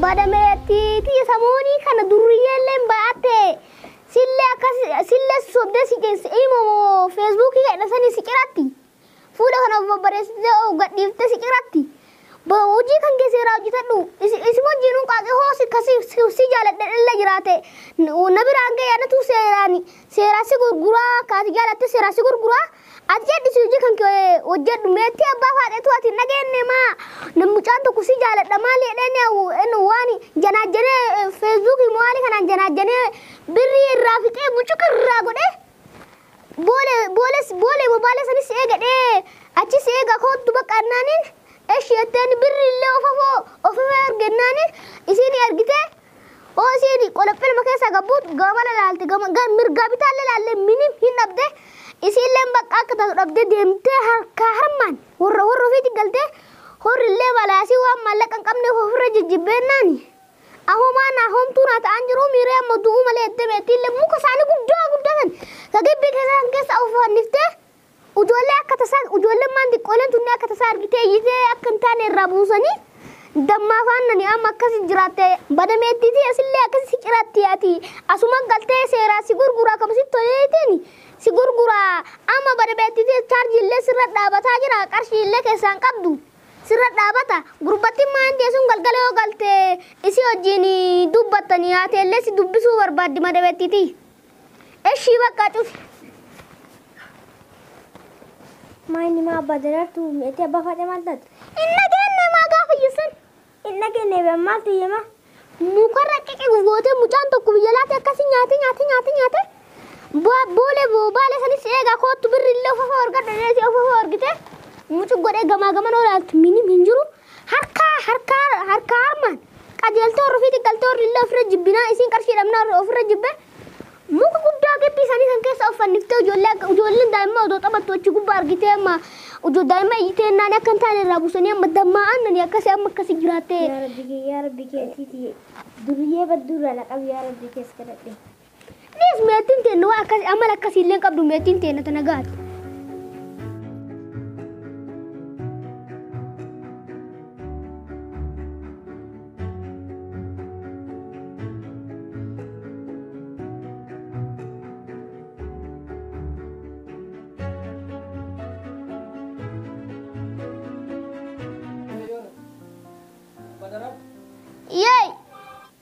Badame tii tii samoonii kana durriyyeelleen ba'atte sillee akkas sillee sobdee si cisse imo moo feesbuukii keedha sanii si ciratti fuula kana of babbareessitee of gadhiiftee si ciratti ba hojii kan kee seeraa hojjetadhu isi isi wajjiin hunqaaqee hoo si kasi si si jaaladhe illee jiraate na biraan ga'e anatu seeraan seeraa si gurguraa kaati jaalatte seeraa si gurguraa Ati cadhisi hojii kan kee hojjedhu meettii abbaa faadheetu ati hin dhageenne maa nam mucaan tokko si jaaladha maali jedhee ni hawwu inni waan janaajjanee feesbuukii mo'aalii kanaan janaajjanee birrii irraa fixee bucuqa irraa godhee boole booles boole bobaalee sanis eegadhee achis eega koottu bakka annaaniin eshi jetteen birri illee ofafoo ofifee ergennaaniin isiin ergitee OCD qolophi ilma keessa gabbuut gamana laalte gama gar mirgaa bitaalle laalle minim hin dhabde isiilleen baqqaa akka taatu dhabde deemtee harkaa harmaan horra horra ofiiti galtee horrillee malaasii waan maallaqa hin qabneef ofirra jijjibbeennaani ahomaa naa homtuu naa ta'aan jiruu miiree amma du'uu malee edde meetiillee muka isaanii guddaa guddaa san ka gibbii keessaa san keessa of fanniftee Ujoollee akka tasaan ujoolleen maan diqqooleen tunni akka tasaa argitee iyyitee akka hin taane irraa buusanii dammaa faannani amma akkasi jiraatte badameettiitii asillee akkasi si ciraatti ati asuma galtee seeraa si gurguraa kama si toleetiin si gurguraa amma badameettiitii chaarjii illee sirra dhaabataa jira qarshii illee keessaan qabdu sirra dhaabata gurbattiin maan deesuun galgala yoo galte isii wajjin dubbattani haatee illee si dubbisuu barbaaddi madameettiitii. Eshii bakka cufi. Maayini maa abbaa daraartuu mi'eetti abbaa faadhee maal taate? Hin dhageenye maa gaafa iyyeessan? Hin dhageenye biyya maal ta'e maa? Mukarra qiqi gootee mucaan tokko biyya laate akkasii nyaatee nyaatee nyaatee nyaatee bo- boolee bo- baalee sanis eegaa koottu birri illee ofofoo argadhu dheesee ofofoo argitee mucu godhee gamaa gaman olaaltu minim hin jiru Harkaa harkaa harkaa harmaan qajeeltoo irra fi xiqqaltoo irra illee ofirra jibbinaa isiin qarshii dhabnaa irra ofirra jibbee muka guddaa gibbii isaanii san keessa of fanniftee ijoollee akka ijoolleen daa'immaa odoo taphattu achi gubbaa argitee amma ijoo daa'immaa iyyitee hennaan akka hin taane irraa buusanii amma dammaa aannanii akkasii amma akkasii jiraattee yaa rabbi kee yaa rabbi kee atiiti duriyyee badduurraa na qabi yaa rabbi kees kadhadhe Nis meettiin teenna waan akkasii amala akkasii illee qabdu meettiin teenna tana gaati.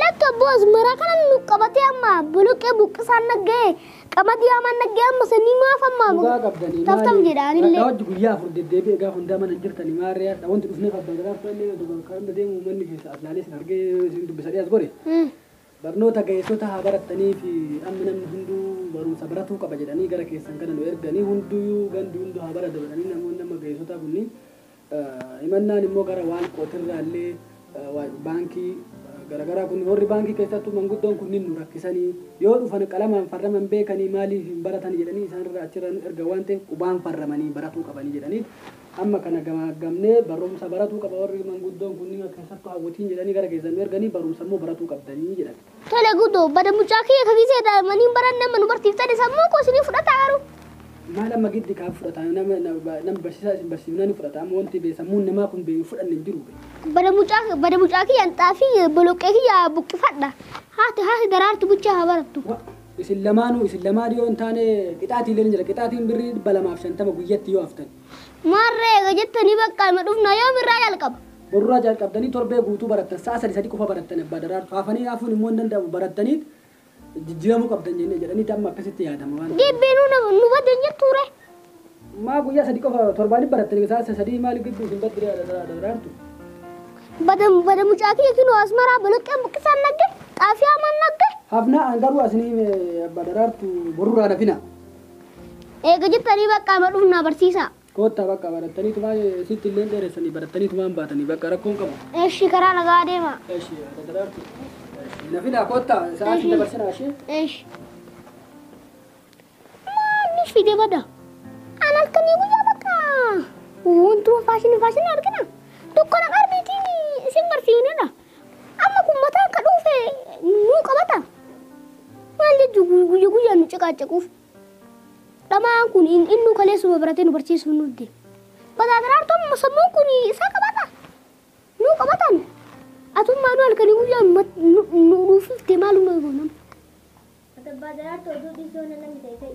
Lakki abboo azmaraa kana nu qabatee amma boloqqee buqqisaan nagga'ee qamadii hamaan nagga'ee amma sanii maaf amma Dhugaa qabdanii taftam maali? jedha Rakkaa anillee. hojji guyyaa afur deddeebi'e egaa hundaa mana hin jirtani maarree hadha wanti dhufnee qabdan gadaaf ta'ellee osoo bakka hunda deemu manni keessa as laalee isin argee isin dubbisadhee as gore. Hmm. Barnoota ga'eessota haa barattanii fi amma namni hunduu barumsa baratuu qaba jedhanii gara keessan kana nu erganii hunduu gandi hunduu haa baratu jedhanii namoonni amma ga'eessotaa kunniin Himannaan immoo gara waan kootirraa illee baankii garagaraa kun warri baankii keessattuu manguddoon kunniin nu rakkisanii yoo dhufan qalamaan farraman beekanii maaliif hin baratan jedhanii isaanirraa achirraa nu erga waan ta'eef qubaan farramanii baratuu qabanii jedhanii amma kana gamaaggamnee barumsa baratuu qaba warri manguddoon kunniin keessattuu hawwatiin jedhanii gara keessan nu erganii barumsa immoo baratuu qabdanii jedhan. Tole guddoo bada mucaa kiyya ka gisee daa'immanii baranne amma nu barsiiftani sammuu koo isinii fudhataa garuu. Maal amma giddi kaa fudhataa nama nama barsiisaa isin barsiifnaan hin fudhataa amma wanti bee sammuun namaa kun bee hin fudhanne hin jiru bee. Bada mucaa bada mucaa kiyyaan xaafii boloqqee kiyya buqqifadha haati haati daraartu bichaa haa barattu. Wa isin lamaanuu isin lamaan yoo hin taane qixaatii illee ni jira qixaatiin birrii dhibba lamaaf shantama guyyatti yoo haftan. Maarree eega jettanii baqqaa ima dhufnaa yoomirraa jalqaba? Borurraa jalqabdanii torbee guutuu barattan sa'a sadi sadi qofa barattan Abbaa Daraartu. Hafanii hafuun immoo hin danda'amu barattaniit jijjiiramuu qabdan jennee jedhaniiti amma akkasitti yaadama waan ta'eef. Deebbiinuu na nu baddan jettuu ree? Maa guyyaa sadi qofa torbaaniif barattan sa'a sa sadii maaliif gidduu isin baddi ree Abbaa Daraartu? Bada bada mucaa kiyya kinoo asmaraa boloqqeen buqqisaan nagge xaafii hamaan nagge. Hafnaa an garuu asin hime Abbaa Daraartu borurraa nafina. Eega jettanii baqqaa ma dhufnaa barsiisaa. Koottaa bakka barattaniitumaa sitti illeen dheeressanii barattaniitumaan baatanii bakka rakkoon qabu. Eshi karaa nagaa deema. Eshi adda daraartu. Eshi na fidaa koottaa sa'aatii Eshi. dabarsinaa ishee. Esh. Maanni fide bada. An halkanii guyyaa bakka. Wantuun faashinii faashinii argina. Dukkana qarbiitiin isin barsiinedha. Amma kun mataan ka dhuufe nuu qabata. Maal jechuun guyya guyyaan nu ciqaacaquuf. Dhama'aan kun in, innuu kaleessuma baratee nu barsiisuu nuuf deema. But at heart amma sammuun kun isaa qabata. Nuu qabatan. Atummaa nu halkanii guyyaa nu mat- nu- nu- nuuf hiftee maaluma eegoonam. Ati abbaa daraartuu oduu dhiisii hona namni ta'e ta'e.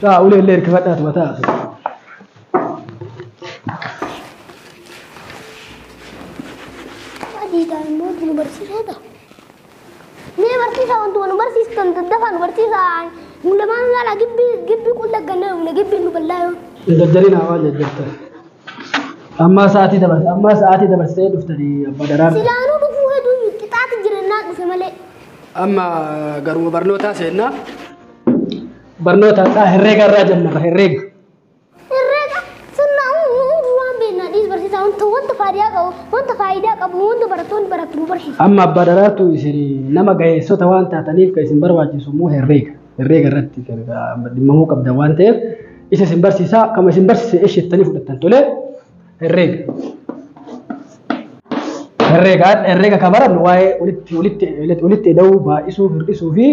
Taa ulee illee hirkifadhaa tuma taa. Adiidhaan immoo itti nu barsiisaa ta'a. Mee barsiisaa wantuma nu barsiistan daddafaa nu barsiisaa. Nu lamaan gaala gibbii gibbii qulla gannaa nu gibbii nu bal'aa yoo. Hin jajjarinaa waan jajjartan. Ammaa sa'aatii dabarsa ammaa sa'aatii dabarsitee dhuftanii abbaa daraarta. Silaanuu dhufuu heduu qixaati jirannaa dhufe malee. Amma garuma barnootaa seennaa. Barnoota isaa herreega irraa jalqaba herreega. Herreega sirnaa uumuu waan beeknaa dhiis barsiisaa wanta wanta faayidaa qabu wanta faayidaa qabu wanta barattoonni barattu nu barsiisa. Amma abbaa daraartu isin nama ga'eessota waan taataniif kan isin barbaachisu immoo herreega. herreega irratti kan dhimmamuu qabdan waan ta'eef isa isin barsiisaa akkuma isin barsiise eshettanii fudhattan tolee herreega. Herreega herreega kan barannu waa'ee walitti walitti walitti ida'uu baay'isuu hir'isuu fi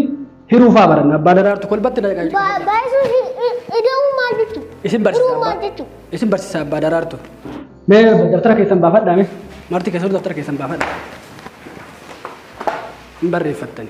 hiruu fa'aa baranna abbaa daraartu kolbatti na qajeelcha. Ba- Baay'isuun i- i- ida'uu maal jechuudha? Isin barsiisa Hiruu maal abbaa jechuudha? isin barsiisa abbaa daraartu. Mee daftara keessan baafadhaa mee marti keessan daftara keessan baafadhaa. Hin barreeffattani.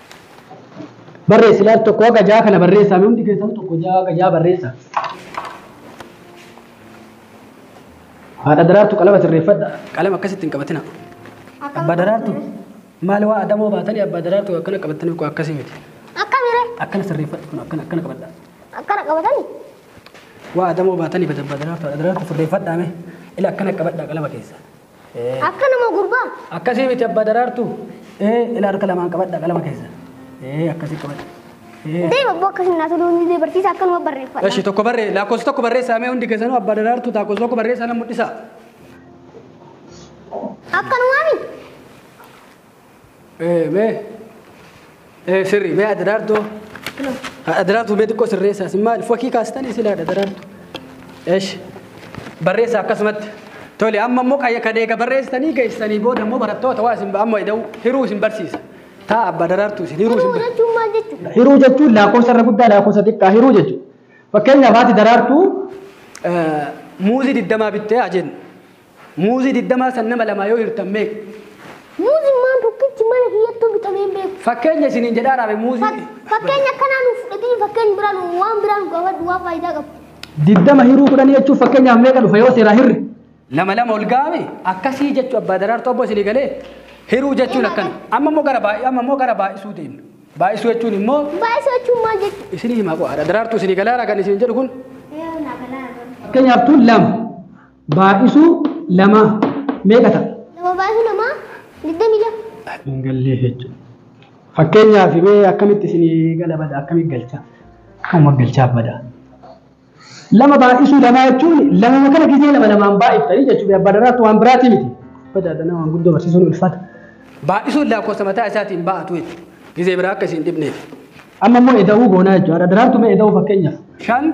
Barreessi laal tokko haga ja'a kana barreessaa mee hundi keessan tokko ja'a haga ja'a barreessaa. Haadha daraartu qalama sirreeffadha. Qalama akkasitti hin qabatina. Abbaa daraartu maal waa adamoo baatanii abbaa daraartu akkana qabatanii koo akkasii miti. Akkamire Akkana sirreeffadha kun akkana akkana qabadha. akkana qabatani Waa adamoo baatanii bada abbaa daraartu haadha daraartu sirreeffadhaa mee ila akkana qabadhaa qalama keessa. Akka nama gurbaa. Akkasii miti abbaa daraartu. Ee ila harka lamaan qabadha qalama keessa. Ee akkasii qabadha. Ee. Deem abboo akkasii naa toluu ni barsiisa akkanuma barreeffadha. Eshi tokko barree lakkoofsa tokko barreessaa mee hundi keessanuu abbaa daraartu lakkoofsa tokko barreessaa nan mul'isa. Akkanumaami. Ee, mee ee, sirrii mee adda daartoo adda daartuu mee xiqqoo sirreessaas maal fakkii kaastanii silaa adda daartuu eesh barreessaa akkasumatti tole amma immoo qayya kan eega barreessitanii geessanii booda immoo barattoota waa isin amma ida'u hiruu isin barsiisa taa abbaa daraartuu isin hiruu isin barsiisa. jechuun maal jechuudha? Hiruu jechuun lakkoofsa irra guddaa lakkoofsa xiqqaa hiruu jechuudha. Fakkeenyaaf haati daraartuu Muuzii digdamaa bittee haa jennu. Muuzii digdamaa san nama lamaa yoo hirtan meeqa? Muuzimmaan tokkichi mana kiyyattuu bitamee hin beeku. Fakkeenya isiniin jedhaa raabe muuzii. Fak- Fakkeenya akkanaa nuuf fudhatiin fakkeenya biraa nu waan biraa nu gaafadhu waan faayidaa qabu. Digdama hiruu kudhanii jechuun fakkeenyaaf meeqa dhufa yoo seeraa hirre? Lama lama ol gaame akkasii jechuu abbaa daraartuu abboo isinii galee hiruu jechuun akkana. Amma immoo gara baay'ee amma immoo gara baay'isuu deemna. Baay'isuu jechuun immoo Baay'isuu jechuun maal jechuudha? isinii himaa qo'aadha. Daraartuu isinii galaara kan isin jedhu kun Fakkeenyaaf tun lama. Baay'isuu lamaa meeqa ta'a? Lama baay'isuu lamaa digdamii lama. Hin gallee jechuudha. Fakkeenyaaf mee akkamitti isinii gala bada akkamitti galchaa? Akkuma galchaa bada. Lama baay'isuu lamaa jechuun lamuma kana gizee lama lamaan baay'iftanii jechuudha. Abbaa daraartu waan biraatii miti. Bada dana waan guddoo barsiisuun ulfaata. Baay'isuun lakkoofsa mataa isaatiin baa'atu jechuudha. Gizee biraa akka isin dhibneef. Amma immoo eda'uu goonaa jechuudha. Daraartu mee eda'uu fakkeenyaaf. Shan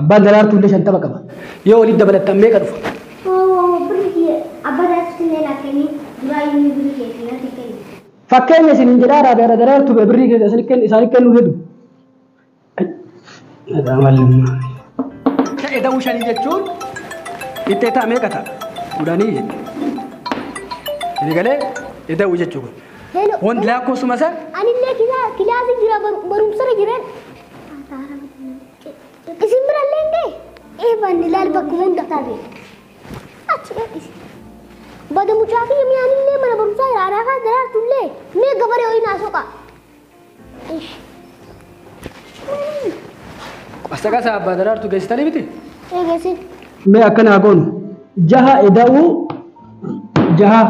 Abbaan daraartuu illee shantama qaba. Yoo walitti dabalattan meeqa dhufa? Hoo birri kiyya abbaa daraartuutti illee naaf kenni duraayyuu inni birri kiyya isin natti kenni. Fakkeenya isiniin jedhaa raabe ara daraartuu bee birrii keessa isin kenni isaaniif kennuu hedu. Ta'e da'uu shanii jechuun itti ta'a meeqa ta'a? Kudhanii jedhe. Inni galee eda'uu jechuu kun. Hello. Wanti lakkoofsuma isaa Anillee kilaasii jira barumsarra jiran. Isin birallee hin ga'e? Ee baanni laal bakkuma hunda taate. Achi gadhisi. Bada mucaa fi mi'aanillee mana barumsaa jira aadaa kaas daraartullee mee gabaree ho'i naa soqa. Ish. Qasa qasa abbaa daraartu geessitanii miti? Eegasi. mee akkanaa goonu jaha eda'uu jaha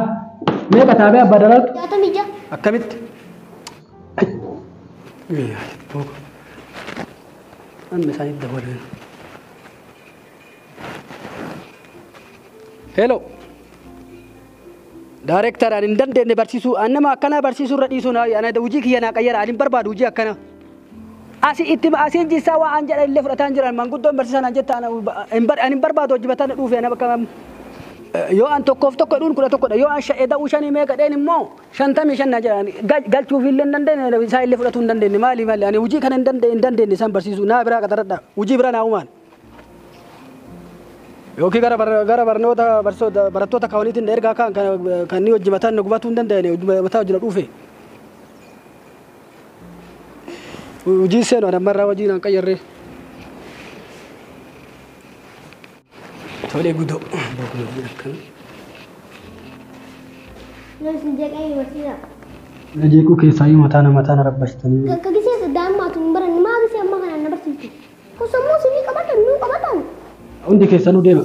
mee qataabee abbaa daraartu Jaatamii ja'a. Akkamitti? Hello. Daareektar ani hin dandeenye barsiisuu ani nama akkanaa barsiisuu irra dhiisuu naa ana hojii kiyya naa qayyara ani hin barbaadu hojii akkanaa. Asi itti asiin jissaa waa an jedhan illee fudhataan jiran manguddoon barsiisaan an jettaan ani hin barbaadu hojii bataan dhuufe ana bakka yoo an tokkoof tokko dhuun kudha tokkodha yoo an sha'e da'uu shanii meeqa dheen immoo 55 na jedhan galchuuf illee hin dandeenye isaa illee fudhatuu hin dandeenye maali maali ani hojii kana hin dandeenye hin dandeenye isaan barsiisuu naa biraa qaxaradha hojii biraa naa umaan yookiin gara bar- gara barnoota barsoota barattoota kaawaniitiin ergaa kaan kan kan inni hojii mataan na gubatuu hin dandeenye hojii mataa hojii na dhuufe hojii seenu ani ammarraa hojii naan qayyarree. Tole gudoo. Bagumaan akkana. Yoo isin jeeqee hin barsiisa. Na jeequu keessaa yoo mataa nama taana rabbasitanii. Akka gisee saddaa ammaa tun hin baranne maa gisee ammaa kanaan na barsiifte. Kun sammuu isinii qabatan nuu qabatan. Hundi keessanuu deema.